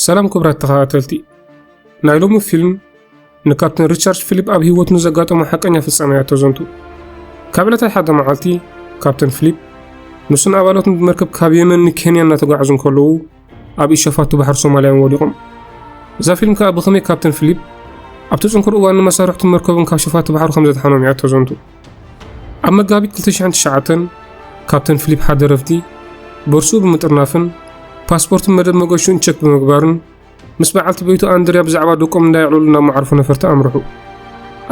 ሰላም ክብራት ተኸታተልቲ ናይ ሎሚ ፊልም ንካፕተን ሪቻርድ ፊሊፕ ኣብ ህይወት ንዘጋጠሞ ሓቀኛ ፍጻመ እያ ተዘንቱ ካብ ዕለታት ሓደ መዓልቲ ካፕተን ፊሊፕ ንሱን ኣባላቱን ብመርከብ ካብ የመን ንኬንያ እናተጓዓዙ እንከለዉ ኣብ ኢድ ሸፋቱ ባሕሪ ሶማልያውን ወዲቖም። እዛ ፊልም ከኣ ብኸመይ ካፕተን ፊሊፕ ኣብቲ ጽንኩር እዋን ንመሳርሕቱን መርከቡን ካብ ሸፋቱ ባሕሪ ከም ዘድሓኖም እያ እተዘንቱ። ኣብ መጋቢት 2009 ካፕተን ፊሊፕ ሓደ ረፍዲ ቦርሱኡ ብምጥርናፍን ፓስፖርትን መደብ መገሹን ቸክ ብምግባርን ምስ በዓልቲ ቤቱ ኣንድርያ ብዛዕባ ደቆም እንዳየዕለሉ ናብ መዓርፎ ነፈርቲ ኣምርሑ።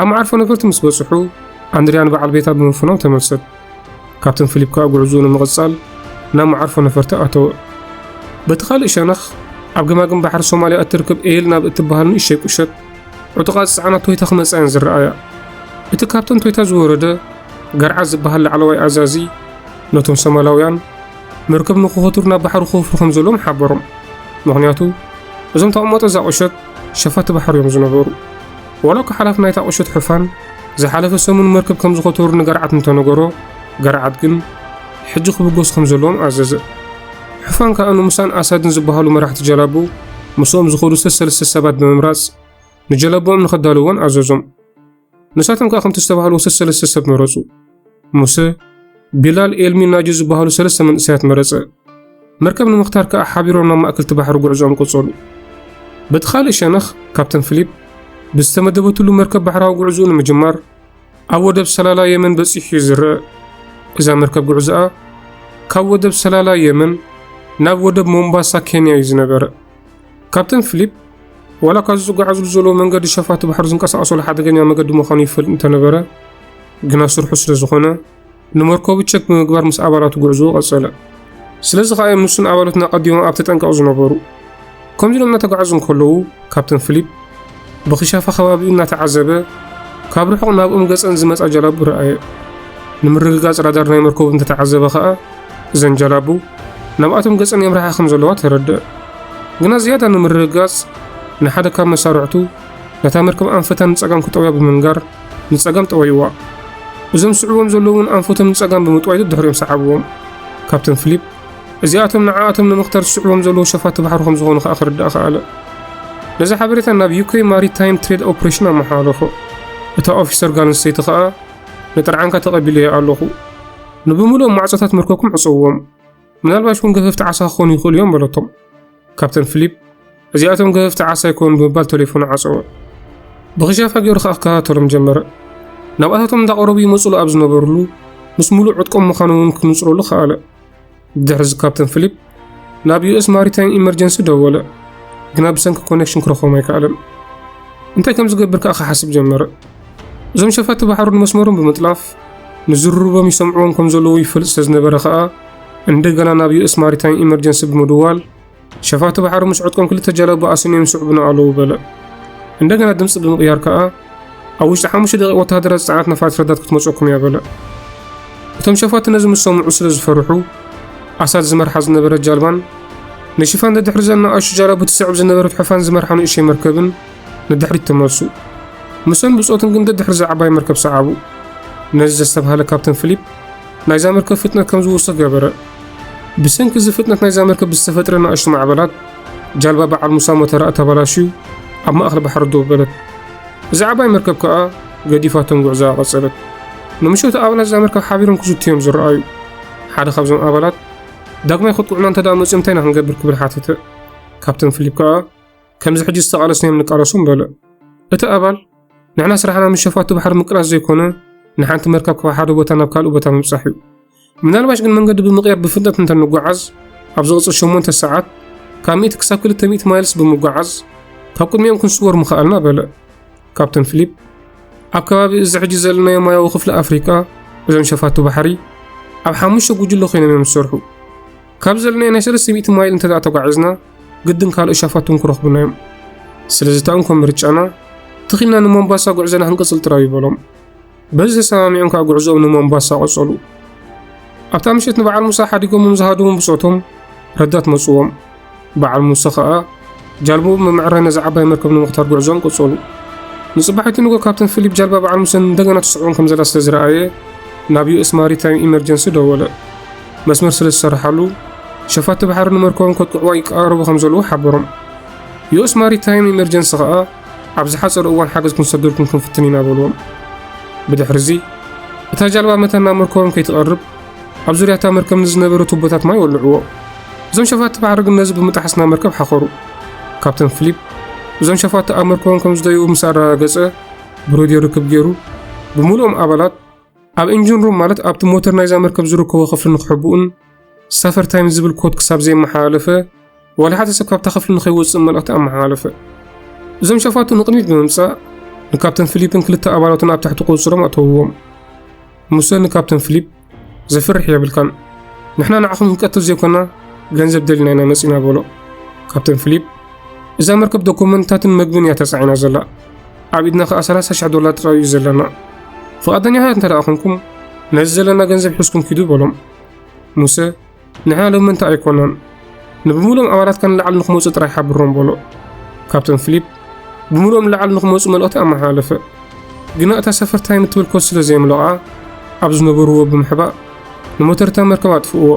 ኣብ መዓርፎ ነፈርቲ ምስ በጽሑ ኣንድርያ ንበዓል ቤታ ብምፍኖም ተመልሰት። ካፕተን ፊሊፕ ከኣ ጉዕዝኡ ንምቕጻል ናብ መዓርፎ ነፈርቲ ኣተወ። በቲ ካልእ ሸነኽ ኣብ ገማግም ባሕሪ ሶማልያ እትርከብ ኤል ናብ እትበሃል ንእሸይ ቁሸት ዕጡቓት ዝጸዓና ቶይታ ክመጻ እየን ዝረኣያ። እቲ ካብተን ቶይታ ዝወረደ ገርዓ ዝበሃል ላዕለዋይ ኣዛዚ ነቶም ሶማላውያን መርከብ ንክኸቱር ናብ ባሕሪ ክወፍሩ ከም ዘለዎም ሓበሮም። ምክንያቱ እዞም ተቐመጦ እዛ ቁሸት ሸፋቲ ባሕሪ እዮም ዝነበሩ። ዋላኳ ሓላፊ ናይታ ቁሸት ሕፋን ዝሓለፈ ሰሙን መርከብ ከም ዝኸተሩ ንገርዓት እንተነገሮ፣ ገርዓት ግን ሕጂ ክብገሱ ከም ዘለዎም ኣዘዘ። ሕፋን ከኣ ንሙሳን ኣሳድን ዝበሃሉ መራሕቲ ጀላቡ ምስኦም ዝኸዱ ሰሰለስተ ሰባት ብምምራጽ ንጀላቦኦም ንኸዳልዎን ኣዘዞም። ንሳቶም ከኣ ከምቲ ዝተባህልዎ ሰሰለስተ ሰብ መረጹ። ሙሰ፣ ቢላል፣ ኤልሚ፣ ናጁ ዝበሃሉ ሰለስተ መንእሰያት መረጸ። መርከብ ንምኽታር ከኣ ሓቢሮም ናብ ማእከልቲ ባሕሪ ጉዕዞኦም ቀጸሉ። በቲ ካልእ ሸነኽ ካፕተን ፊሊፕ ብዝተመደበትሉ መርከብ ባሕራዊ ጉዕዞኡ ንምጅማር ኣብ ወደብ ሰላላ የመን በጺሑ እዩ ዝረአ። እዛ መርከብ ጉዕዞኣ ካብ ወደብ ሰላላ የመን ናብ ወደብ ሞምባሳ ኬንያ እዩ ዝነበረ። ካፕተን ፊሊፕ ዋላ ካብዚ ዝጓዓዙሉ ዘለዎ መንገዲ ሸፋቱ ባሕሪ ዝንቀሳቐሰሉ ሓደገኛ መገዲ ምዃኑ ይፈልጥ እንተነበረ ግና ስርሑ ስለ ዝኾነ ንመርከቡ ቸክ ብምግባር ምስ ኣባላቱ ጉዕዞ ቀጸለ። ስለዚ ከኣ እዮም ንሱን ኣባሉትን ኣቐዲሞም ኣብ ተጠንቀቕ ዝነበሩ። ከምዚ ኢሎም እናተጓዓዙ እንከለዉ ካፕተን ፊሊፕ ብክሻፋ ከባቢኡ እናተዓዘበ ካብ ርሑቕ ናብኡም ገጸን ዝመጻ ጀላቡ ረኣየ። ንምርግጋጽ ራዳር ናይ መርከቡ እንተተዓዘበ ኸኣ እዘን ጀላቡ ናብኣቶም ገጸን የምርሓ ከም ዘለዋ ተረድእ። ግና ዝያዳ ንምርግጋጽ ንሓደ ካብ መሳርዕቱ ነታ መርከብ ኣንፈታ ንጸጋም ክጠውያ ብምንጋር ንጸጋም ጠወይዋ። እዞም ዝስዕብዎም ዘለዉ እውን ኣንፈቶም ንጸጋም ብምጥዋይ ደድሕሪኦም ሰዓብዎም። ካፕተን ፊሊፕ እዚኣቶም ንዓኣቶም ንምኽታር ዝስዕቦም ዘለዉ ሸፋቱ ባሕሪ ከም ዝኾኑ ከኣ ክርዳእ ከኣለ። ነዚ ሓበሬታ ናብ ዩክሬን ማሪታይም ትሬድ ኦፕሬሽን ኣመሓላለፎ። እታ ኦፊሰር ጋል ኣንስተይቲ ከኣ ንጥርዓንካ ተቐቢለዮ ኣለኹ። ንብምሉኦም ማዕጾታት መርከብኩም ዕጸዎም። ምናልባሽ እውን ገፈፍቲ ዓሳ ክኾኑ ይኽእሉ እዮም በለቶም። ካፕተን ፊሊፕ እዚኣቶም ገፈፍቲ ዓሳ ኣይኮኑ ብምባል ቴሌፎኑ ዓፀወ። ብኽሻፋ ገይሩ ከዓ ክከታተሎም ጀመረ። ናብኣታቶም እንዳቐረቡ ይመፅሉ ኣብ ዝነበርሉ ምስ ሙሉእ ዕጥቆም ምዃኑ እውን ክንፅረሉ ከኣለ። ብድሕሪዚ ካፕተን ፊሊፕ ናብ ዩኤስ ማሪታይም ኢመርጀንሲ ደወለ፣ ግና ብሰንኪ ኮኔክሽን ክረኽቦም ኣይከኣለን። እንታይ ከም ዝገብር ከዓ ክሓስብ ጀመረ። እዞም ሸፋቲ ባሕሩ ንመስመሮም ብምጥላፍ ንዝርርቦም ይሰምዕዎም ከም ዘለዉ ይፈልጥ ስለ ዝነበረ ከኣ እንደገና ናብ ዩኤስ ማሪታይም ኢመርጀንሲ ብምድዋል ሸፋቲ ባሕሩ ምስ ዕጥቆም ክልተ ጀላቡ ኣስንዮም ይስዕቡና ኣለዉ በለ። እንደገና ድምፂ ብምቕያር ከኣ ኣብ ውሽጢ ሓሙሽተ ደቂቕ ወተሃደራት ዝፀዓነት ነፋሪት ረዳት ክትመፀኩም እያ በለ። እቶም ሸፋቲ ነዚ ምስ ሰምዑ ስለ ዝፈርሑ ኣሳድ ዝመርሓ ዝነበረት ጃልባን ንሽፋን ደድሕሪ ዘና ኣሹ ጃላቡ ትስዕብ ዝነበረት ሕፋን ዝመርሓ ንእሽተይ መርከብን ንድሕሪት ተመልሱ። ምሰን ብጾትን ግን ደድሕሪ እዛ ዓባይ መርከብ ሰዓቡ። ነዚ ዘስተብሃለ ካፕተን ፊሊፕ ናይዛ መርከብ ፍጥነት ከም ዝውስኽ ገበረ። ብሰንኪ እዚ ፍጥነት ናይዛ መርከብ ብዝተፈጥረ ናእሽቱ ማዕበላት ጃልባ በዓል ሙሳ ሞተራኣ ተበላሽዩ ኣብ ማእኸል ባሕሪ ደው በለት። እዛ ዓባይ መርከብ ከዓ ገዲፋቶም ጉዕዞኣ ቀጸለት። ንምሸቱ ኣባላት እዛ መርከብ ሓቢሮም ክዝቱ እዮም ዝረኣዩ። ሓደ ካብዞም ኣባላት ዳግማይ ከጥቅዑና እንተደኣ መፅዮም እንታይ ኢና ክንገብር ክብል ሓተተ። ካፕተን ፊሊፕ ከዓ ከምዚ ሕጂ ዝተቓለስናዮም ንቃለሶ ምበለ። እቲ ኣባል፣ ንሕና ስራሕና ምስ ሸፋቱ ባሕሪ ምቅላስ ዘይኮነ፣ ንሓንቲ መርከብ ካብ ሓደ ቦታ ናብ ካልእ ቦታ ምብጻሕ እዩ። ምናልባሽ ግን መንገዲ ብምቕያር ብፍጥነት እንተ ንጓዓዝ፣ ኣብ ዝቕጽል ሸሞንተ ሰዓት ካብ ሚእቲ ክሳብ ክልተ ሚእቲ ማይልስ ብምጓዓዝ ካብ ቅድሚኦም ክንስወር ምኸኣልና በለ። ካፕተን ፊሊፕ ኣብ ከባቢ እዚ ሕጂ ዘለናዮ ማያዊ ክፍሊ ኣፍሪቃ እዞም ሸፋቱ ባሕሪ ኣብ ሓሙሽተ ጉጅለ ኮይኖም እዮም ዝሰርሑ። ካብ ዘለናዮ ናይ ሰለስተ ሚእቲ ማይል እንተ ተጓዒዝና ግድን ካልኦት ሸፋቱ እውን ክረኽቡና እዮም። ስለዚ እታ እንኮ ምርጫና ተኺልና ንሞምባሳ ጉዕዞና ክንቅጽል ጥራዩ በሎም። በዚ ተሰማሚዖም ከዓ ጉዕዞኦም ንሞምባሳ ቀጸሉ። ኣብታ ምሸት ንበዓል ሙሳ ሓዲጎሞም ዝሃደዎም ብጾቶም ረዳት መጽዎም። በዓል ሙሳ ከዓ ጃልቦኡ ብምዕራይ ነዚ ዓባይ መርከብ ንምኽታር ጉዕዞኦም ቀጸሉ። ንጽባሒቱ ንጎ ካፕተን ፊሊፕ ጃልባ በዓል ሙሰን እንደገና ትስዕቦም ከም ዘላ ስለ ዝረኣየ ናብ ዩኤስ ማሪታይም ኢመርጀንሲ ደወለ። መስመር ስለ ዝሰረሓሉ ሸፋቱ ባሕሪ ንመርከቦም ከጥቅዕዋ ይቀራረቡ ከም ዘለዉ ሓበሮም። ዩኤስ ማሪታይም ኢመርጀንሲ ከኣ ኣብ ዝሓጸረ እዋን ሓገዝ ክንሰደልኩም ክንፍትን ኢና በልዎም። ብድሕሪ እዚ እታ ጃልባ መታን ናብ መርከቦም ከይትቐርብ ኣብ ዙርያ እታ መርከብ ንዝነበረ ቱቦታት ማይ ወልዕዎ። እዞም ሸፋቲ ባሕሪ ግን ነዚ ብምጥሓስ ናብ መርከብ ሓኸሩ። ካፕተን ፊሊፕ እዞም ሸፋቲ ኣብ መርከቦም ከም ዝደይቡ ምስ ኣረጋገጸ ብሬድዮ ርክብ ገይሩ ብምሉኦም ኣባላት ኣብ ኢንጂን ሩም ማለት ኣብቲ ሞተር ናይዛ መርከብ ዝርከቦ ክፍሊ ንክሕብኡን ሳፈር ታይም ዝብል ኮድ ክሳብ ዘየመሓላለፈ ዋላ ሓደ ሰብ ካብታ ክፍሊ ንከይወፅእ መልእኽቲ ኣመሓላለፈ። እዞም ሸፋቱ ንቕድሚት ብምምፃእ ንካፕተን ፊሊፕን ክልተ ኣባላቱን ኣብ ትሕቲ ቁፅሮም ኣተውዎም። ሙሰ ንካፕተን ፊሊፕ ዘፍርሕ የብልካን፣ ንሕና ንዓኹም ክንቀትል ዘይኮና ገንዘብ ደሊና ኢና መፂና በሎ። ካፕተን ፊሊፕ እዛ መርከብ ዶኩመንትታትን መግብን እያ ተፃዒና ዘላ ኣብ ኢድና ከኣ ሰላሳ ሽሕ ዶላር ጥራይ እዩ ዘለና። ፍቓደኛታት እንተ ደኣ ኹንኩም፣ ነዚ ዘለና ገንዘብ ሒዝኩም ኪዱ በሎም። ሙሴ፣ ንሕና ሎሚ ምእንቲ ኣይኮናን፣ ንብምሉኦም ኣባላትካ ንላዕሊ ንኽመጹ ጥራይ ሓብሮም በሎ። ካብተን ፊሊፕ ብምሉኦም ንላዕሊ ንኽመጹ መልእኽቲ ኣመሓላለፈ። ግና እታ ሰፈር ታይም እትብል ኮድ ስለ ዘየምለቓ፣ ኣብ ዝነበርዎ ብምሕባእ ንሞተር እታ መርከብ ኣጥፍእዎ።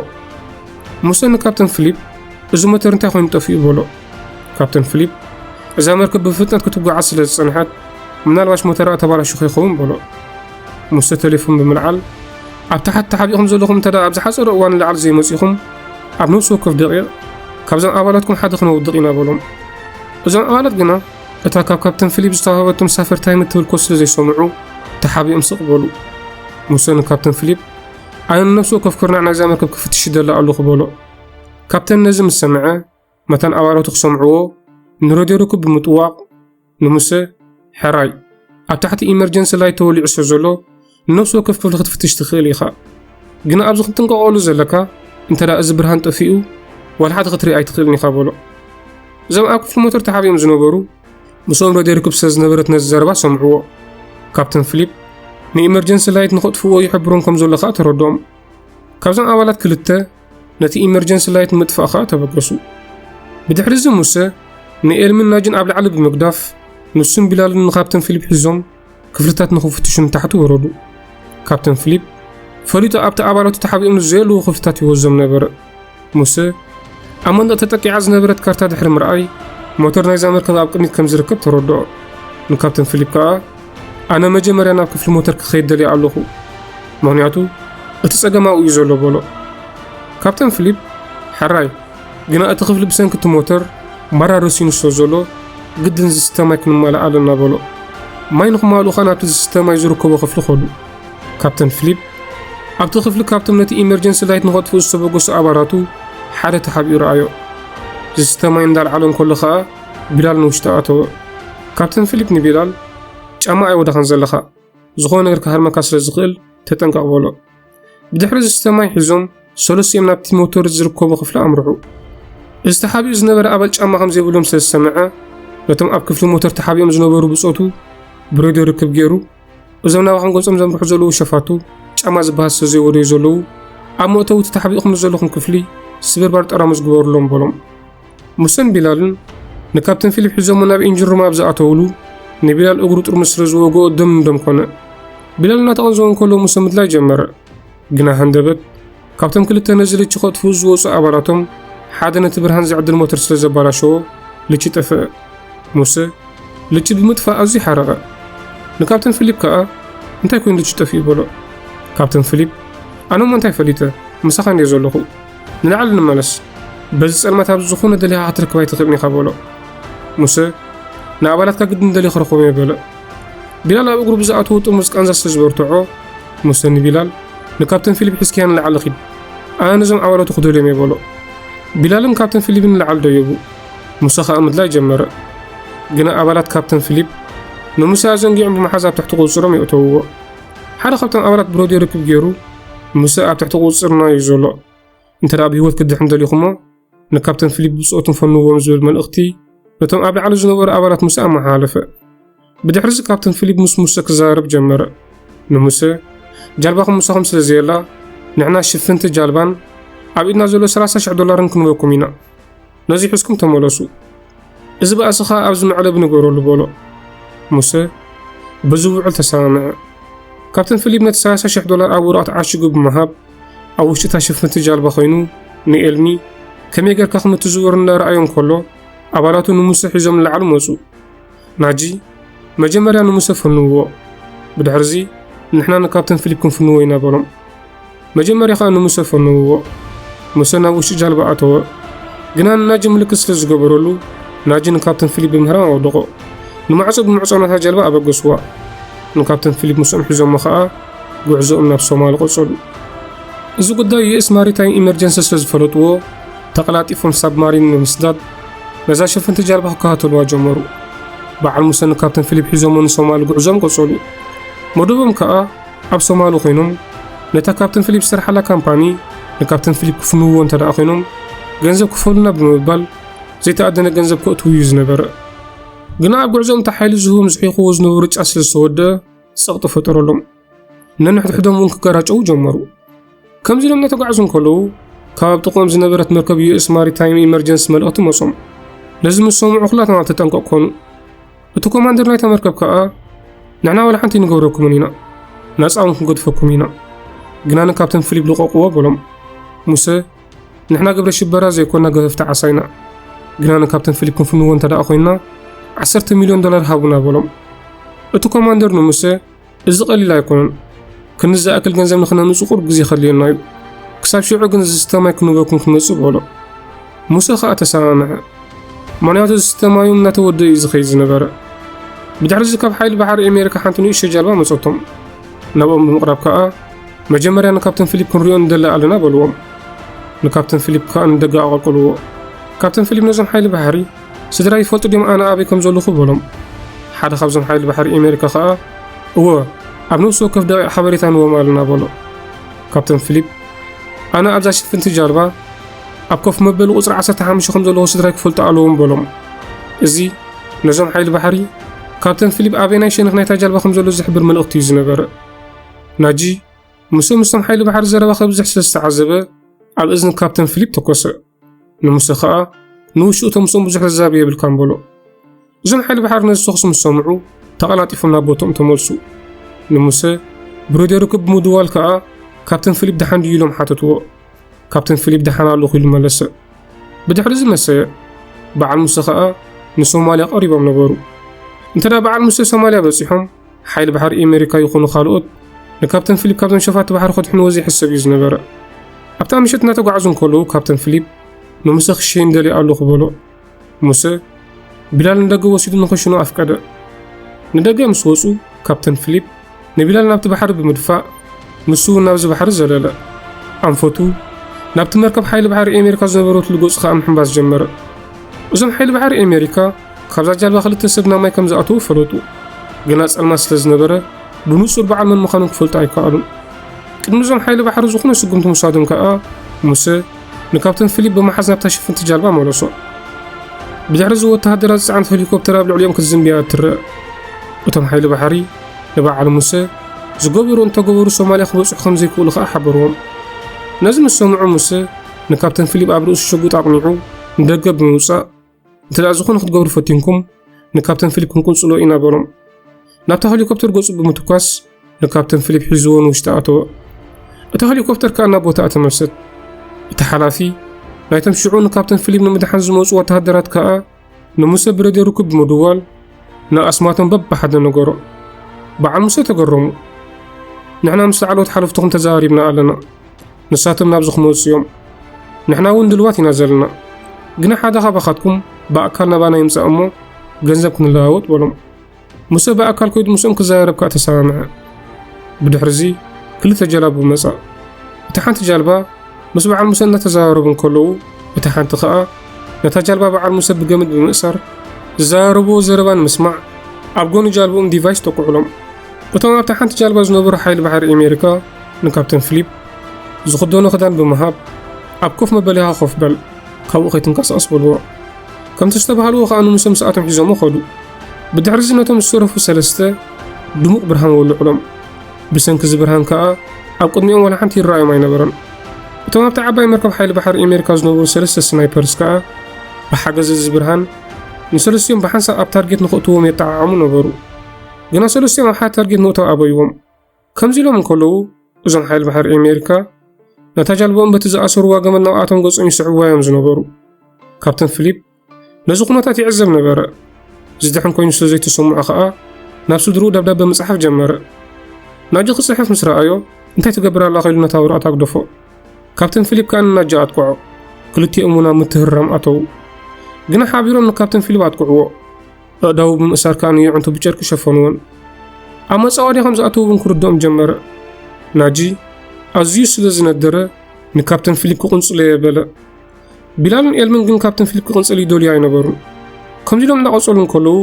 ሙሴ ንካፕተን ፊሊፕ፣ እዚ ሞተር እንታይ ኮይኑ ጠፊኡ በሎ። ካፕተን ፊሊፕ እዛ መርከብ ብፍጥነት ክትጓዓዝ ስለ ዝጸንሐት ምናልባሽ ሞተራ ተባላሽኹ ይኸውን በሎ ሙሰ ቴሌፎን ብምልዓል ኣብ ታሕቲ ተሓቢኹም ዘለኹም እንተ ኣብ ዝሓፀረ እዋን ንላዕሊ ዘይመፂኹም ኣብ ነብሲ ወከፍ ደቂቕ ካብዞም ኣባላትኩም ሓደ ክነውድቕ ኢና በሎም እዞም ኣባላት ግና እታ ካብ ካፕተን ፊሊፕ ዝተዋህበቶም ሳፈርታይ ምትብል ኮ ስለ ዘይሰምዑ ተሓቢኦም ስቕ በሉ ሙሰ ንካፕተን ፊሊፕ ኣነ ንነብሲ ወከፍ ኩርናዕ ናይዛ መርከብ ክፍትሽ ይደላ ኣለኹ በሎ ካፕተን ነዚ ምስ ሰምዐ መታን ኣባላቱ ክሰምዕዎ ንረድዮ ርክብ ብምጥዋቕ ንሙሰ ሕራይ ኣብ ታሕቲ ኢመርጀንሲ ላይ ተወሊዑ ስለ ዘሎ ንነፍሲ ወከፍ ክፍሊ ክትፍትሽ ትኽእል ኢኻ ግና ኣብዚ ክትጥንቀቐሉ ዘለካ እንተ ደኣ እዚ ብርሃን ጠፊኡ ዋላ ሓደ ክትርኢ ኣይትኽእልን ኢኻ በሎ እዞም ኣብ ክፍሊ ሞተር ተሓቢኦም ዝነበሩ ምስኦም ረድዮ ርክብ ስለ ዝነበረት ነዚ ዘረባ ሰምዕዎ ካፕተን ፊሊፕ ንኢመርጀንሲ ላይት ንኸጥፍዎ ይሕብሮም ከም ዘሎ ከዓ ተረድኦም ካብዞም ኣባላት ክልተ ነቲ ኢመርጀንሲ ላይት ምጥፋእ ኸኣ ተበገሱ። ብድሕሪ እዚ ሙሰ ንኤልምን ናጅን ኣብ ላዕሊ ብምግዳፍ ንሱን ቢላልን ንካፕተን ፊሊፕ ሒዞም ክፍልታት ንኽፍትሹ ንታሕቲ ወረዱ። ካፕተን ፊሊፕ ፈሊጡ ኣብቲ ኣባላቱ ተሓቢኦም ንዘየለዉ ክፍልታት ይወዞም ነበረ። ሙሰ ኣብ መንደቕ ተጠቂዓ ዝነበረት ካርታ ድሕሪ ምርኣይ ሞተር ናይዛ መርከብ ኣብ ቅድሚት ከም ዝርከብ ተረድኦ። ንካፕተን ፊሊፕ ከኣ ኣነ መጀመርያ ናብ ክፍሊ ሞተር ክኸይድ ደልየ ኣለኹ፣ ምኽንያቱ እቲ ጸገም ኣብኡ እዩ ዘሎ በሎ። ካፕተን ፊሊፕ ሕራይ ግና እቲ ክፍሊ ብሰንኪ እቲ ሞተር ማራ ረሲኑ ስለ ዘሎ ግድን ዝስተ ማይ ክንማልእ ኣለና በሎ። ማይ ንክማልኡ ኸኣ ናብቲ ዝስተ ማይ ዝርከቦ ክፍሊ ኸዱ። ካፕተን ፊሊፕ ኣብቲ ክፍሊ ካብቶም ነቲ ኢመርጀንሲ ላይት ንኸጥፍኡ ዝተበገሱ ኣባላቱ ሓደ ተሓቢኡ ረኣዮ። ዝስተ ማይ እንዳልዓሎ እንከሎ ኸኣ ቢላል ንውሽጢ ኣተወ። ካፕተን ፊሊፕ ንቢላል ጫማ ኣይወደኻን ዘለኻ፣ ዝኾነ ነገር ክሃርመካ ስለ ዝኽእል ተጠንቀቕ በሎ። ብድሕሪ ዝስተ ማይ ሒዞም ሰለስቲኦም ናብቲ ሞተር ዝርከቦ ክፍሊ ኣምርሑ። እዚ ተሓቢኡ ዝነበረ ኣባል ጫማ ከም ዘይብሎም ስለ ዝሰምዐ ነቶም ኣብ ክፍሊ ሞተር ተሓቢኦም ዝነበሩ ብጾቱ ብሬድዮ ርክብ ገይሩ እዞም ናባኹም ገጾም ዘምርሑ ዘለዉ ሸፋቱ ጫማ ዝበሃል ሰብ ዘይወደዩ ዘለዉ ኣብ መእተዊ እቲ ተሓቢእኩም ዘለኹም ክፍሊ ስብርባር ጠራሙዝ ግበሩሎም በሎም ሙሰን ቢላልን ንካፕተን ፊሊፕ ሒዞሞ ናብ ኢንጂን ሩም ኣብ ዝኣተውሉ ንቢላል እግሩ ጥርሙስ ስለ ዝወግኦ ደም ንደም ኮነ ቢላል እናተቐንዘወ እንከሎ ሙሰ ምድላይ ጀመረ ግና ሃንደበት ካብቶም ክልተ ነዚ ልቺ ከጥፍኡ ዝወፁ ኣባላቶም ሓደ ነቲ ብርሃን ዝዕድል ሞተር ስለ ዘባላሸዎ ልቺ ጠፍአ። ሙሰ ልቺ ብምጥፋእ ኣዝዩ ሓረቐ። ንካፕተን ፊሊፕ ከኣ እንታይ ኮይኑ ልቺ ጠፍኡ በሎ። ካፕተን ፊሊፕ ኣነ እሞ እንታይ ፈሊጠ ምሳኻ እንድየ ዘለኹ ንላዕሊ ንመለስ በዚ ጸልማት ኣብ ዝኾነ ደሊኻ ክትረክብ ኣይትኽእልን ኢኻ በሎ። ሙሰ ንኣባላትካ ግድን ደልየ ክረኽቦም እየ በለ። ቢላል ኣብ እግሩ ብዝኣተዉ ጥሙዝ ቃንዛ ስለ ዝበርትዖ፣ ሙሴ ንቢላል፣ ንካፕተን ፊሊፕ ሒዝካያ ንላዕሊ ኺድ፣ ኣነ ነዞም ዓዋለቱ ክድህልዮም እየ በሎ። ቢላልን ካፕተን ፊሊፕን ንላዕሊ ደየቡ፣ ሙሴ ኸኣ ምድላይ ጀመረ። ግና ኣባላት ካፕተን ፊሊፕ ንሙሴ ኣዘንጊዖም ብምሓዝ ኣብ ትሕቲ ቁጽጽሮም የእተውዎ። ሓደ ካብቶም ኣባላት ብረድዮ ርክብ ገይሩ፣ ሙሴ ኣብ ትሕቲ ቁጽጽርና እዩ ዘሎ፣ እንተ ደኣ ብህይወት ክድሕን ደሊኹሞ፣ ንካፕተን ፊሊፕ ብጾቱን ፈንዎም ዝብል መልእኽቲ ነቶም ኣብ ላዕሊ ዝነበሩ ኣባላት ሙሴ ኣመሓላለፈ። ብድሕሪዚ ካፕተን ፊሊፕ ምስ ሙሴ ክዘራረብ ጀመረ። ንሙሴ ጃልባኹም ምሳኹም ስለ ዘየላ ንሕና ሽፍንቲ ጃልባን ኣብ ኢድና ዘሎ 30,000 ዶላርን ክንበኩም ኢና። ነዚ ሑዝኩም ተመለሱ። እዚ ባእሲ ኸኣ ኣብዚ መዕለቢ ንገረሉ በሎ። ሙሴ በዚ ውዕል ተሰማምዐ። ካፕተን ፊሊፕ ነቲ 30,000 ዶላር ኣብ ወረቐት ዓሽጉ ብምሃብ ኣብ ውሽጢ እታ ሽፍንቲ ጃልባ ኮይኑ ንኤልሚ ከመይ ጌርካ ከም እትዝውር እናረኣዮ እንከሎ ኣባላቱ ንሙሰ ሒዞም ንላዕሊ መጹ። ናጂ መጀመርያ ንሙሰ ፈንውዎ፣ ብድሕርዚ ንሕና ንካፕተን ፊሊፕ ክንፍንዎ ኢና በሎም። መጀመርያ ከኣ ንሙሰ ፈንውዎ። ሙሰ ናብ ውሽጢ ጃልባ ኣተወ። ግና ንናጂ ምልክት ስለ ዝገበረሉ ናጂ ንካፕተን ፊሊፕ ብምህራም ኣወደቖ። ንማዕጾ ብምዕጻው ናታ ጃልባ ኣበገስዋ። ንካፕተን ፊሊፕ ምስኦም ሒዞሞ ከኣ ጉዕዞኦም ናብ ሶማል ቐጸሉ። እዚ ጉዳይ ዩኤስ ማሪታይም ኢመርጀንሲ ስለ ዝፈለጥዎ ተቐላጢፎም ሳብማሪን ብምስዳድ ነዛ ሸፈንቲ ጃልባ ክከታተልዋ ጀመሩ። በዓል ሙሰን ካብተን ፊሊፕ ሒዞሞ ንሶማሊ ጉዕዞም ቀጸሉ። መደቦም ከኣ ኣብ ሶማሊ ኮይኖም ነታ ካብተን ፊሊፕ ዝሰርሓላ ካምፓኒ ንካብተን ፊሊፕ ክፍንውዎ እንተ ደኣ ኮይኖም ገንዘብ ክፈሉና ብምባል ዘይተኣደነ ገንዘብ ከእትው እዩ ዝነበረ። ግና ኣብ ጉዕዞም እታ ሓይሊ ዝህቦም ዝሒኹዎ ዝነበሩ ጫት ስለ ዝተወደኣ ጸቕጢ ፈጠረሎም። ነንሕድሕዶም እውን ክገራጨው ጀመሩ። ከምዚ ኢሎም እናተጓዕዙ እንከለዉ ካብ ኣብ ጥቕኦም ዝነበረት መርከብ ዩኤስ ማሪታይም ኢመርጀንሲ መልእኽቲ መጾም። ነዚ ምስ ሰምዑ ኩላቶም ኣብ ተጠንቀቕ ኮኑ። እቲ ኮማንደር ናይታ መርከብ ከኣ ንሕና ዋላ ሓንቲ ንገብረኩምን ኢና ናጻ እውን ክንገድፈኩም ኢና ግናን ካብተን ፍሊብ ልቐቕዎ በሎም ሙሰ ንሕና ግብረ ሽበራ ዘይኮና ገፈፍቲ ዓሳ ኢና። ግና ንካፕተን ፊሊፕ ክንፍንዎ እንተ ደኣ ኮይንና ዓሰርተ ሚልዮን ዶላር ሃቡና በሎም። እቲ ኮማንደር ንሙሴ እዚ ቀሊል ኣይኮነን፣ ክንዲ ዝኣክል ገንዘብ ንክነምጽ ቁሩብ ግዜ ከድልየና እዩ፣ ክሳብ ሽዑ ግን ዝስተ ማይ ክንህበኩም ክንመጽእ በሎ። ሙሴ ከኣ ተሰማምዐ፣ ምክንያቱ ዝስተ ማዩ እናተወድእ እዩ ዝኸይድ ዝነበረ። ብድሕሪ እዚ ካብ ሓይሊ ባሕሪ ኣሜሪካ ሓንቲ ንእሽቶ ጃልባ መጸቶም። ናብኦም ብምቕራብ ከኣ መጀመርያ ንካፕተን ፊሊፕ ክንሪኦ ንደሊ ኣለና በልዎም። ንካፕተን ፊሊፕ ከኣ ንደገ ኣቐቅልዎ። ካፕተን ፊሊፕ ነዞም ሓይሊ ባሕሪ ስድራይ ይፈልጡ ድዮም ኣነ ኣበይ ከም ዘለኹ በሎም። ሓደ ካብዞም ሓይሊ ባሕሪ ኤሜሪካ ከኣ እወ ኣብ ነብሲ ወከፍ ደቂቕ ሓበሬታ ንዎም ኣለና በሎ። ካፕተን ፊሊፕ ኣነ ኣብዛ ሽፍንቲ ጃልባ ኣብ ኮፍ መበሊ ቁፅሪ 15 ከም ዘለዎ ስድራይ ክፈልጡ ኣለዎም በሎም እዚ ነዞም ሓይሊ ባሕሪ ካብተን ፊሊፕ ኣበናይ ሸነኽ ናይታ ጃልባ ከም ዘሎ ዝሕብር መልእኽቲ እዩ ዝነበረ ናጂ ሙሰ ምስቶም ሓይሊ ባሕሪ ዘረባ ከብዝሕ ስለ ዝተዓዘበ ኣብ እዝኒ ካፕተን ፊሊፕ ተኮሰ። ንሙሰ ከኣ ንውሽኡ ተምስኦም ብዙሕ ዘዛቢ የብልካን በሎ። እዞም ሓይሊ ባሕሪ ነዚ ተኹሲ ምስ ሰምዑ ተቐላጢፎም ናብ ቦትኦም ተመልሱ። ንሙሰ ብረድዮ ርክብ ብምድዋል ከኣ ካፕተን ፊሊፕ ደሓን ድዩ ኢሎም ሓተትዎ። ካፕተን ፊሊፕ ደሓን ኣለኹ ኢሉ መለሰ። ብድሕሪ እዚ መሰየ በዓል ሙሰ ከኣ ንሶማልያ ቀሪቦም ነበሩ። እንተ በዓል ሙሰ ሶማልያ በጺሖም ሓይሊ ባሕሪ ኤመሪካ ይኹኑ ካልኦት ንካፕተን ፊሊፕ ካብዞም ሸፋቲ ባሕሪ ከድሕንዎ ዘይሕሰብ እዩ ዝነበረ። ኣብታ ምሸት እናተጓዕዙ እንከለዉ ካፕተን ፊሊፕ ንሙሰ ክሸይን ደልየ ኣለኹ በሎ። ሙሰ ቢላል ንደገ ወሲዱ ንክሽኑ ኣፍቀደ። ንደገ ምስ ወጹ ካፕተን ፊሊፕ ንቢላል ናብቲ ባሕሪ ብምድፋእ ንሱ እውን ናብዚ ባሕሪ ዘለለ። ኣንፈቱ ናብቲ መርከብ ሓይሊ ባሕሪ ኣሜሪካ ዝነበረትሉ ገጹ ከኣ ምሕንባስ ጀመረ። እዞም ሓይሊ ባሕሪ ኣሜሪካ ካብዛ ጃልባ ክልተ ሰብ ናብ ማይ ከም ዝኣተዉ ፈለጡ። ግና ጸልማት ስለ ዝነበረ ብንጹር በዓል መን ምዃኖም ክፈልጡ ኣይከኣሉን። ቅድሚ እዞም ሓይሊ ባሕሪ ዝኾነ ስጉምቲ ምውሳዶም ከኣ ሙሴ ንካፕተን ፊሊፕ ብምሓዝ ናብታ ሽፍንቲ ጃልባ መለሶ። ብድሕሪ እዚ ወተሃደራት ዝጸዓነት ሄሊኮፕተር ኣብ ልዕሊኦም ክትዝምብያ እትርአ። እቶም ሓይሊ ባሕሪ ንበዓል ሙሴ ዝገበሩ እንተገበሩ ሶማልያ ክበጽሑ ከም ዘይክእሉ ከኣ ሓበርዎም። ነዚ ምስ ሰምዑ ሙሴ ንካፕተን ፊሊፕ ኣብ ርእሱ ሽጉጥ ኣቕኒዑ ንደገ ብምውጻእ እንተ ዝኾነ ክትገብሩ ፈቲንኩም ንካፕተን ፊሊፕ ክንቅንጽሎ ኢና በሎም። ናብታ ሄሊኮፕተር ገጹ ብምትኳስ ንካፕተን ፊሊፕ ሒዝዎ ንውሽጢ ኣተወ። እታ ሄሊኮፕተር ከኣ ናብ ቦታኣ ተመልሰት። እቲ ሓላፊ ናይቶም ሽዑ ንካፕተን ፊሊፕ ንምድሓን ዝመጹ ወተሃደራት ከኣ ንሙሰ ብረድዮ ርክብ ብምድዋል ንኣስማቶም በብሓደ ነገሮ። በዓል ሙሴ ተገረሙ። ንሕና ምስ ላዕለዎት ሓለፍትኹም ተዘራሪብና ኣለና። ንሳቶም ናብዚ ክመፁ እዮም። ንሕና እውን ድልዋት ኢና ዘለና። ግና ሓደ ካባኻትኩም ብኣካል ናባና ይምፃእ እሞ ገንዘብ ክንለዋወጥ በሎም። ሙሴ ብኣካል ከይዱ ምስኦም ክዘራረብ ከዓ ተሰማምዐ። ብድሕርዚ ክልተ ጀላቡ መጻ። እታ ሓንቲ ጃልባ ምስ በዓል ሙሰ እናተዘራረቡ እንከለዉ እታ ሓንቲ ከኣ ነታ ጃልባ በዓል ሙሰ ብገመድ ብምእሳር ዝዘራረብዎ ዘረባ ንምስማዕ ኣብ ጎኒ ጃልብኦም ዲቫይስ ተኩዕሎም። እቶም ኣብታ ሓንቲ ጃልባ ዝነበሩ ሓይሊ ባሕሪ ኣሜሪካ ንካፕተን ፊሊፕ ዝኽደኖ ክዳን ብምሃብ ኣብ ኮፍ መበሊኻ ኮፍ በል ካብኡ ከይትንቀሳቐስ በልዎ። ከምቲ ዝተባሃልዎ ከኣ ንሙሰ ምስኣቶም ሒዞሞ ከዱ። ብድሕርዚ ነቶም ዝተረፉ ሰለስተ ድሙቕ ብርሃን ወልዑሎም። ብሰንኪ እዚ ብርሃን ከኣ ኣብ ቅድሚኦም ዋላ ሓንቲ ይረኣዮም ኣይነበረን። እቶም ኣብቲ ዓባይ መርከብ ሓይሊ ባሕሪ ኣሜሪካ ዝነበሩ ሰለስተ ስናይፐርስ ከኣ ብሓገዝ እዚ ብርሃን ንሰለስቲኦም ብሓንሳብ ኣብ ታርጌት ንኽእትዎም የጠዓዓሙ ነበሩ ግና ሰለስቲኦም ኣብ ሓደ ታርጌት ምእታው ኣበይዎም ከምዚ ኢሎም እንከለዉ እዞም ሓይሊ ባሕሪ ኣሜሪካ ነታ ጃልባኦም በቲ ዝኣሰርዋ ገመድ ናብኣቶም ገጾም ይስዕብዋ እዮም ዝነበሩ ካፕተን ፊሊፕ ነዚ ኩነታት ይዕዘብ ነበረ። ዝድሕን ኮይኑ ስለ ዘይተሰምዖ ኸኣ ናብ ስድርኡ ደብዳበ ምጽሓፍ ጀመረ። ናጂ ክጽሕፍ ምስ ረኣዮ እንታይ ትገብር ኣላ ኸኢሉ ነታ ወረቐት ኣግደፎ። ካብተን ፊሊፕ ከኣ ንናጂ ኣጥቅዖ። ክልቲኦም እውን ኣብ ምትህርራም ኣተዉ። ግና ሓቢሮም ንካብተን ፊሊፕ ኣጥቅዕዎ። ኣእዳዉ ብምእሳር ከኣ ንየዕንቱ ብጨርቂ ሸፈንዎን። ኣብ መጻወዲ ከም ዝኣተዉ እውን ክርድኦም ጀመረ። ናጂ ኣዝዩ ስለ ዝነደረ ንካብተን ፊሊፕ ክቕንጽሎየ በለ። ቢላልን ኤልምን ግን ካብተን ፊሊፕ ክቕንጽል ይደልዩ ኣይነበሩን። ከምዚ ኢሎም እናቐጸሉ እንከለዉ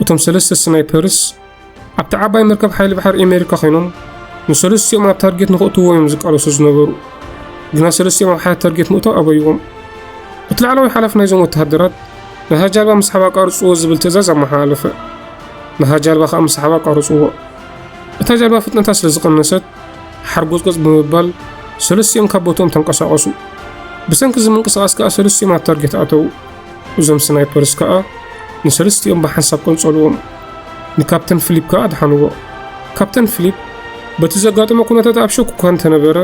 እቶም ሰለስተ ስናይፐርስ ኣብቲ ዓባይ መርከብ ሓይሊ ባሕሪ ኣሜሪካ ኮይኖም ንሰለስቲኦም ኣብ ታርጌት ንክእትዎ እዮም ዝቃለሱ ዝነበሩ። ግና ሰለስቲኦም ኣብ ሓደ ታርጌት ምእታው ኣበይዎም። እቲ ላዕለዋይ ሓላፊ ናይዞም ወተሃደራት ነታ ጃልባ ምስሓብ ኣቃርጽዎ ዝብል ትእዛዝ ኣመሓላለፈ። ነታ ጃልባ ከዓ ምስሓብ ኣቃርጽዎ። እታ ጃልባ ፍጥነታ ስለ ዝቐነሰት ሓርጎጽጎጽ ብምባል ሰለስቲኦም ካብ ቦትኦም ተንቀሳቐሱ። ብሰንኪ እዚ ምንቅስቓስ ከኣ ሰለስቲኦም ኣብ ታርጌት ኣተዉ። እዞም ስናይፐርስ ከኣ ንሰለስቲኦም ብሓንሳብ ቀንጸልዎም። ንካፕተን ፊሊፕ ከኣ ኣድሓንዎ። ካፕተን ፊሊፕ በቲ ዘጋጠሞ ኩነታት ኣብ ሸኩ እኳ እንተነበረ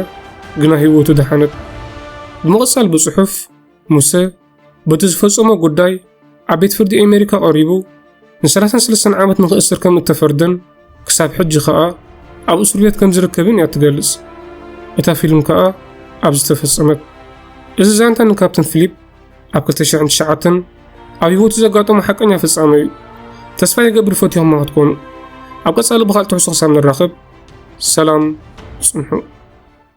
ግና ህይወቱ ደሓነት። ብምቕጻል ብጽሑፍ ሙሰ በቲ ዝፈጸሞ ጉዳይ ኣብ ቤት ፍርዲ ኣሜሪካ ቀሪቡ ን33 ዓመት ንኽእስር ከም እተፈርደን ክሳብ ሕጂ ከኣ ኣብ እስር ቤት ከም ዝርከብን እያ እትገልጽ። እታ ፊልም ከኣ ኣብ ዝተፈጸመት። እዚ ዛንታ ንካፕተን ፊሊፕ ኣብ 2009 ኣብ ህይወቱ ዘጋጠሙ ሓቀኛ ፍጻመ እዩ። ተስፋ ይገብር ፈትዮማ ክትኮኑ። ኣብ ቀጻሊ ብካልእ ትሕዝቶ ክሳብ ንራኸብ ሰላም ጽንሑ።